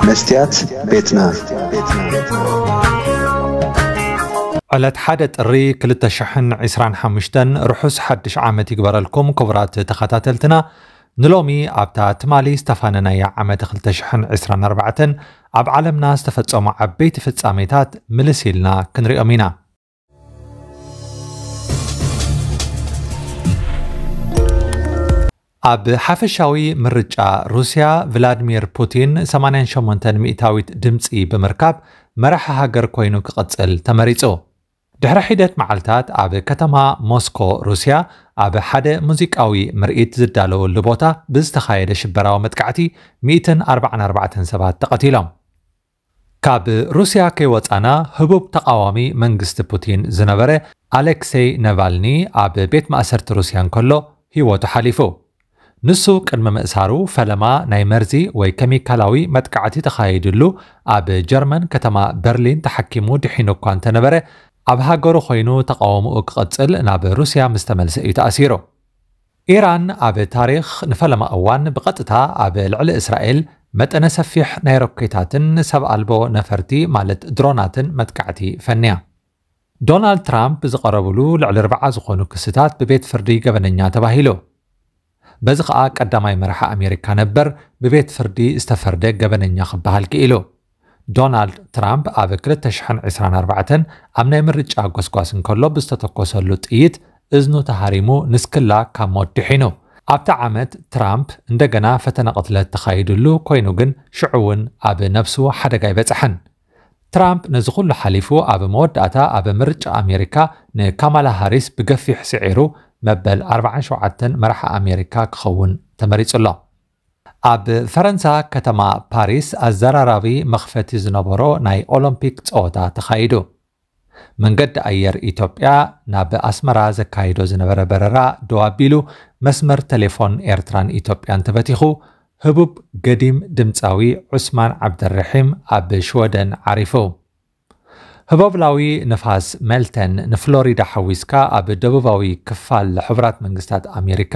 መስትያት ቤትና ዕለት ሓደ ጥሪ 225 ርሑስ ሓድሽ ዓመት ይግበረልኩም ክቡራት ተኸታተልትና ንሎሚ ኣብታ ትማሊ ዝተፋነናያ ዓመት 224 ኣብ ዓለምና ዝተፈጸሙ ዓበይቲ ፍጻሜታት ምልስ ኢልና ክንሪኦም ኢና ኣብ ሓፈሻዊ ምርጫ ሩስያ ቭላድሚር ፑቲን 88 ሚእታዊት ድምፂ ብምርካብ መራሒ ሃገር ኮይኑ ክቕፅል ተመሪፁ ድሕሪ ሒደት መዓልታት ኣብ ከተማ ሞስኮ ሩስያ ኣብ ሓደ ሙዚቃዊ ምርኢት ዝዳለወሉ ቦታ ብዝተኻየደ ሽበራዊ መጥቃዕቲ 144 ሰባት ተቐቲሎም ካብ ሩስያ ከይወጻና ህቡብ ተቓዋሚ መንግስቲ ፑቲን ዝነበረ ኣሌክሴይ ነቫልኒ ኣብ ቤት ማእሰርቲ ሩስያ እንከሎ ህይወቱ ሓሊፉ። ንሱ ቅድሚ ምእሳሩ ፈለማ ናይ መርዚ ወይ ከሚካላዊ መጥቃዕቲ ተኻይድሉ ኣብ ጀርመን ከተማ በርሊን ተሓኪሙ ድሒኑ እኳ እንተነበረ ኣብ ሃገሩ ኮይኑ ተቓውሞኡ ክቕጽል ናብ ሩስያ ምስተመልሰ እዩ ተኣሲሩ። ኢራን ኣብ ታሪኽ ንፈለማ እዋን ብቐጥታ ኣብ ልዕሊ እስራኤል መጠነ ሰፊሕ ናይ ሮኬታትን ሰብ ኣልቦ ነፈርቲ ማለት ድሮናትን መጥቃዕቲ ፈንያ። ዶናልድ ትራምፕ ዝቐረብሉ ልዕሊ ኣርብዓ ዝኾኑ ክስታት ብቤት ፍርዲ ገበነኛ ተባሂሉ። በዚ ከኣ ቀዳማይ መራሒ ኣሜሪካ ነበር ብቤት ፍርዲ ዝተፈርደ ገበነኛ ክበሃል ክኢሉ። ዶናልድ ትራምፕ ኣብ ክልተ ሽሕን ዕስራን ኣርባዕተን ኣብ ናይ ምርጫ ጎስጓስ እንከሎ ብዝተተኮሰሉ ጥይት እዝኑ ተሃሪሙ ንስክላ ካብ ሞት ድሒኑ። ኣብታ ዓመት ትራምፕ እንደገና ፈተነ ቅትለት ተኻይድሉ ኮይኑ ግን ሽዑ'ውን ኣብ ነብሱ ሓደጋ ኣይበጽሐን። ትራምፕ ነዚ ኩሉ ሓሊፉ ኣብ መወዳእታ ኣብ ምርጫ ኣሜሪካ ንካማላ ሃሪስ ብገፊሕ ስዒሩ መበል ኣርባዓን ሸውዓተን መራሒ ኣሜሪካ ክኸውን ተመሪጹ'ሎ። ኣብ ፈረንሳ ከተማ ፓሪስ ኣዘራራቢ መኽፈቲ ዝነበሮ ናይ ኦሎምፒክ ፀወታ ተኻይዱ። መንገዲ ኣየር ኢትዮጵያ ናብ ኣስመራ ዘካይዶ ዝነበረ በረራ ደው ኣቢሉ መስመር ቴሌፎን ኤርትራን ኢትዮጵያን ተበቲኹ ህቡብ ገዲም ድምፃዊ ዑስማን ዓብደልርሒም ኣብ ሽወደን ዓሪፉ። ህቦብላዊ ንፋስ ሜልተን ንፍሎሪዳ ሓዊስካ ኣብ ደቡባዊ ክፋል ሕቡራት መንግስታት ኣሜሪካ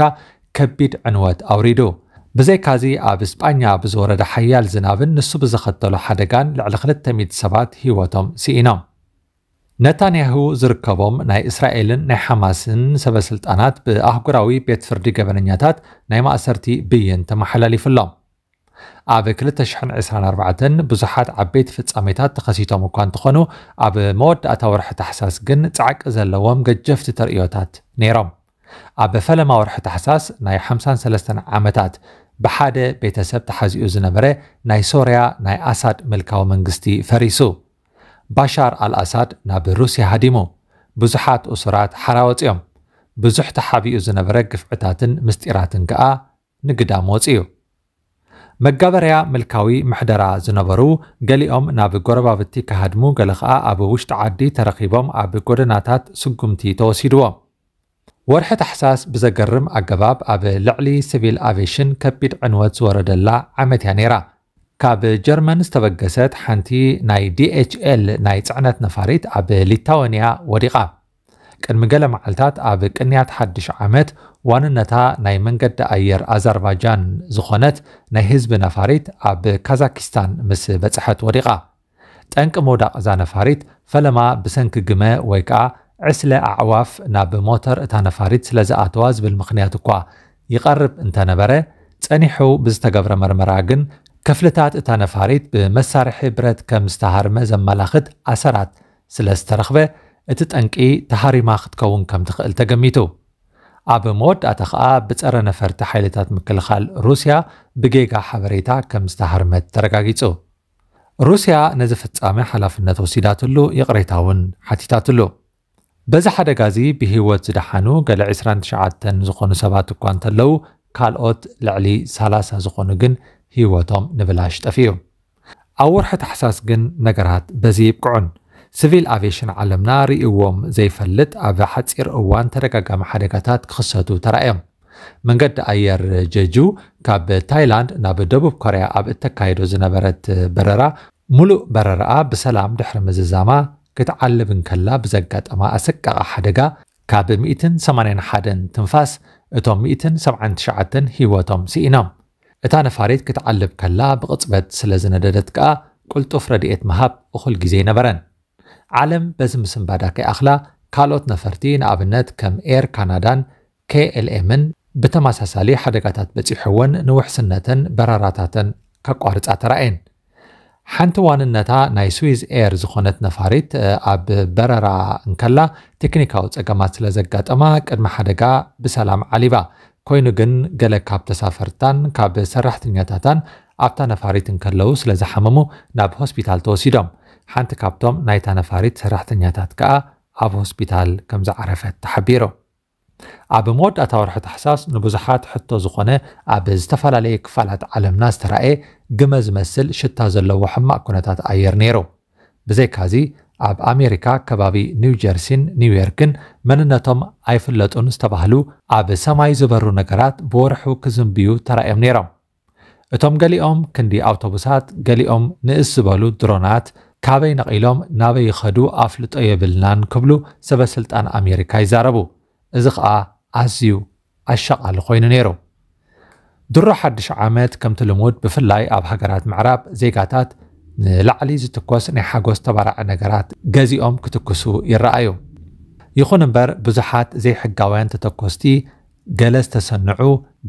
ከቢድ ዕንወት ኣውሪዱ። ብዘይካዚ ኣብ ስጳኛ ብዝወረደ ሓያል ዝናብን ንሱ ብዘኸተሎ ሓደጋን ልዕሊ ክልተ ሚእቲ ሰባት ህይወቶም ስኢኖም። ነታንያሁ ዝርከቦም ናይ እስራኤልን ናይ ሓማስን ሰበስልጣናት ብኣህጉራዊ ቤት ፍርዲ ገበነኛታት ናይ ማእሰርቲ ብይን ተመሓላሊፉሎም። ኣብ ክልተ ሽሕን ዕስራን ኣርባዕተን ብዙሓት ዓበይቲ ፍጻሜታት ተኸሲቶም እኳ እንተኾኑ ኣብ መወዳእታ ወርሒ ታሕሳስ ግን ጻዕቂ ዘለዎም ገጀፍቲ ተርእዮታት ነይሮም። ኣብ ፈለማ ወርሒ ታሕሳስ ናይ ሓምሳን ሰለስተን ዓመታት ብሓደ ቤተሰብ ተሓዚኡ ዝነበረ ናይ ሶርያ ናይ ኣሳድ ምልካዊ መንግስቲ ፈሪሱ። ባሻር ኣልኣሳድ ናብ ሩስያ ሃዲሙ። ብዙሓት እሱራት ሓራ ወጺኦም። ብዙሕ ተሓቢኡ ዝነበረ ግፍዕታትን ምስጢራትን ከኣ ንግዳም ወጺኡ። መጋበርያ ምልካዊ ምሕደራ ዝነበሩ ገሊኦም ናብ ጎረባብቲ ክሃድሙ ገለ ከኣ ኣብ ውሽጢ ዓዲ ተረኺቦም ኣብ ጎደናታት ስጉምቲ ተወሲድዎም። ወርሒ ታሕሳስ ብዘገርም ኣገባብ ኣብ ልዕሊ ስቪል ኣቬሽን ከቢድ ዕንወት ዝወረደላ ዓመት እያ ነይራ። ካብ ጀርመን ዝተበገሰት ሓንቲ ናይ DHL ናይ ጽዕነት ነፋሪት ኣብ ሊታወንያ ወዲቓ። ቅድሚ ገለ መዓልታት ኣብ ቅንያት ሓድሽ ዓመት ዋንነታ ናይ መንገዲ ኣየር ኣዘርባጃን ዝኾነት ናይ ህዝቢ ነፋሪት ኣብ ካዛኪስታን ምስ በጽሐት ወዲቓ። ጠንቂ ምውዳቕ እዛ ነፋሪት ፈለማ ብሰንኪ ግመ ወይ ከኣ ዕስለ ኣዕዋፍ ናብ ሞተር እታ ነፋሪት ስለ ዝኣተዋ ዝብል ምኽንያት እኳ ይቐርብ እንተነበረ፣ ጸኒሑ ብዝተገብረ መርመራ ግን ክፍልታት እታ ነፋሪት ብመሳርሒ ብረት ከም ዝተሃርመ ዘመላኽት ኣሰራት ስለ ዝተረኽበ እቲ ጠንቂ ተሃሪማ ክትከውን ከም ትኽእል ተገሚቱ። ኣብ መወዳእታ ከኣ ብጸረ ነፈርቲ ሓይልታት ምክልኻል ሩስያ ብጌጋ ሓበሬታ ከም ዝተሃርመት ተረጋጊጹ። ሩስያ ነዚ ፍጻመ ሓላፍነት ወሲዳትሉ ይቕሬታ እውን ሓቲታትሉ። በዚ ሓደጋ እዚ ብህይወት ዝደሓኑ ገለ ዕስራን ትሽዓተን ዝኾኑ ሰባት እኳ እንተለዉ ካልኦት ልዕሊ ሰላሳ ዝኾኑ ግን ህይወቶም ንብላሽ ጠፊኡ። ኣብ ወርሒ ታሕሳስ ግን ነገራት በዚ ይብቅዑን ስቪል ኣቬሽን ዓለምና ርእይዎም ዘይፈልጥ ኣብ ሓጺር እዋን ተደጋጋሚ ሓደጋታት ክኽሰቱ ተራእዮም። መንገዲ ኣየር ጀጁ ካብ ታይላንድ ናብ ደቡብ ኮርያ ኣብ እተካይዶ ዝነበረት በረራ ምሉእ በረራኣ ብሰላም ድሕሪ ምዝዛማ ክትዓልብ እንከላ ብዘጋጠማ ኣሰቃቒ ሓደጋ ካብ ሚእትን ሰማንያን ሓደን ትንፋስ እቶም ሚእትን ሰብዓን ትሽዓተን ህይወቶም ስኢኖም። እታ ነፋሪት ክትዓልብ ከላ ብቕጽበት ስለ ዝነደደት ከኣ ቅልጡፍ ረድኤት ምሃብ እኹል ግዜ ኣይነበረን። ዓለም በዚ ምስንባዳ ከይኣኽላ ካልኦት ነፈርቲ ንኣብነት ከም ኤር ካናዳን KLMን ብተመሳሳሊ ሓደጋታት በጺሑወን ንውሕስነተን በረራታተን ከቋርጻ ተራእየን። ሓንቲ ዋንነታ ናይ ስዊዝ ኤር ዝኾነት ነፋሪት ኣብ በረራ እንከላ ቴክኒካዊ ጸገማት ስለ ዘጋጠማ ቅድሚ ሓደጋ ብሰላም ዓሊባ። ኮይኑ ግን ገለ ካብ ተሳፈርታን ካብ ሰራሕተኛታታን ኣብታ ነፋሪት እንከለዉ ስለ ዝሓመሙ ናብ ሆስፒታል ተወሲዶም። ሓንቲ ካብቶም ናይታ ነፋሪት ሰራሕተኛታት ከኣ ኣብ ሆስፒታል ከም ዝዓረፈት ተሓቢሩ። ኣብ መወዳእታ ወርሒ ታሕሳስ ንብዙሓት ሕቶ ዝኾነ ኣብ ዝተፈላለየ ክፋላት ዓለምና ዝተራእየ ግመ ዝመስል ሽታ ዘለዎ ሕማቕ ኩነታት ኣየር ነይሩ። ብዘይካዚ ኣብ ኣሜሪካ ከባቢ ኒው ጀርሲን ኒውዮርክን መንነቶም ኣይፍለጡን ዝተባህሉ ኣብ ሰማይ ዝበሩ ነገራት ብወርሑ ክዝንብዩ ተራእዮም ነይሮም። እቶም ገሊኦም ክንዲ ኣውቶቡሳት፣ ገሊኦም ንእስ ዝበሉ ድሮናት ካበይ ነቒሎም ናበይ ይኸዱ ኣፍልጦ የብልናን ክብሉ ሰበ ስልጣን ኣሜሪካ ይዛረቡ። እዚ ከኣ ኣዝዩ ኣሻቓሊ ኮይኑ ነይሩ። ድሮ ሓድሽ ዓመት ከምቲ ልሙድ ብፍላይ ኣብ ሃገራት ምዕራብ ዜጋታት ንላዕሊ ዝትኮስ ናይ ሓጎስ ተባራዒ ነገራት ገዚኦም ክትኩሱ ይረኣዩ። ይኹን እምበር ብዙሓት ዘይሕጋውያን ተተኮስቲ ገለ ዝተሰንዑ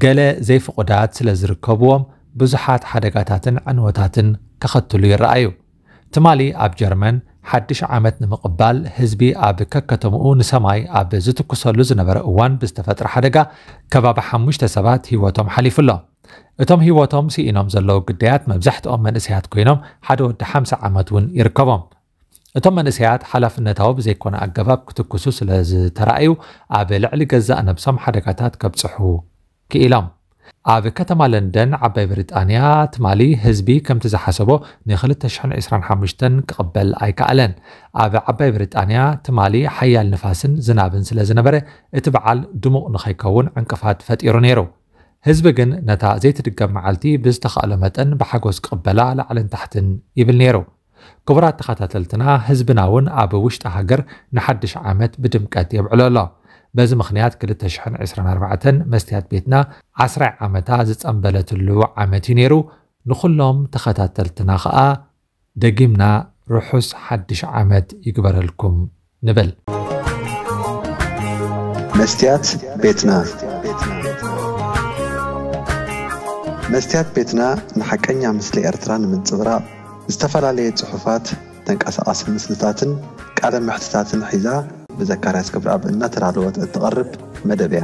ገለ ዘይፍቑዳት ስለ ዝርከብዎም ብዙሓት ሓደጋታትን ዕንወታትን ከኸትሉ ይረኣዩ። ትማሊ ኣብ ጀርመን ሓድሽ ዓመት ንምቕባል ህዝቢ ኣብ ከከተምኡ ንሰማይ ኣብ ዝትኩሰሉ ዝነበረ እዋን ብዝተፈጥረ ሓደጋ ከባቢ ሓሙሽተ ሰባት ህይወቶም ሓሊፉ ኣሎ። እቶም ህይወቶም ስኢኖም ዘለዉ ግዳያት መብዛሕትኦም መንእሰያት ኮይኖም ሓደ ወዲ ሓምሳ ዓመት እውን ይርከቦም። እቶም መንእሰያት ሓላፍነታዊ ብዘይኮነ ኣገባብ ክትኩሱ ስለ ዝተራእዩ ኣብ ልዕሊ ገዛእ ነብሶም ሓደጋታት ከብጽሑ ክኢሎም። ኣብ ከተማ ለንደን ዓባይ ብሪጣንያ ትማሊ ህዝቢ ከምቲ ዝሓሰቦ ንክልተ ሽሕን ዕስራን ሓሙሽተን ክቕበል ኣይከኣለን። ኣብ ዓባይ ብሪጣንያ ትማሊ ሓያል ንፋስን ዝናብን ስለ ዝነበረ እቲ በዓል ድሙቕ ንኸይከውን ዕንቅፋት ፈጢሩ ነይሩ። ህዝቢ ግን ነታ ዘይትድገም መዓልቲ ብዝተኻእሎ መጠን ብሓጎስ ክቕበላ ላዕልን ታሕትን ይብል ነይሩ። ክቡራት ተኸታተልትና ህዝብና እውን ኣብ ውሽጢ ሃገር ንሓድሽ ዓመት ብድምቀት የብዕሎ ኣሎ። በዚ ምኽንያት ክልተ ሽሕን ዕስራን ኣርባዕተን መስትያት ቤትና ዓስራይ ዓመታ ዝጸምበለትሉ ዓመት እዩ ነይሩ። ንኹሎም ተኸታተልትና ከኣ ደጊምና ርሑስ ሓድሽ ዓመት ይግበረልኩም ንበል። መስትያት ቤትና መስትያት ቤትና ንሓቀኛ ምስሊ ኤርትራ ንምንጽብራቕ ዝተፈላለየ ጽሑፋት፣ ተንቀሳቓሲ ምስልታትን ቃለ መሕትታትን ሒዛ ብዘካርያስ ገብረኣብ እናተዳለወት እትቐርብ መደብ እያ።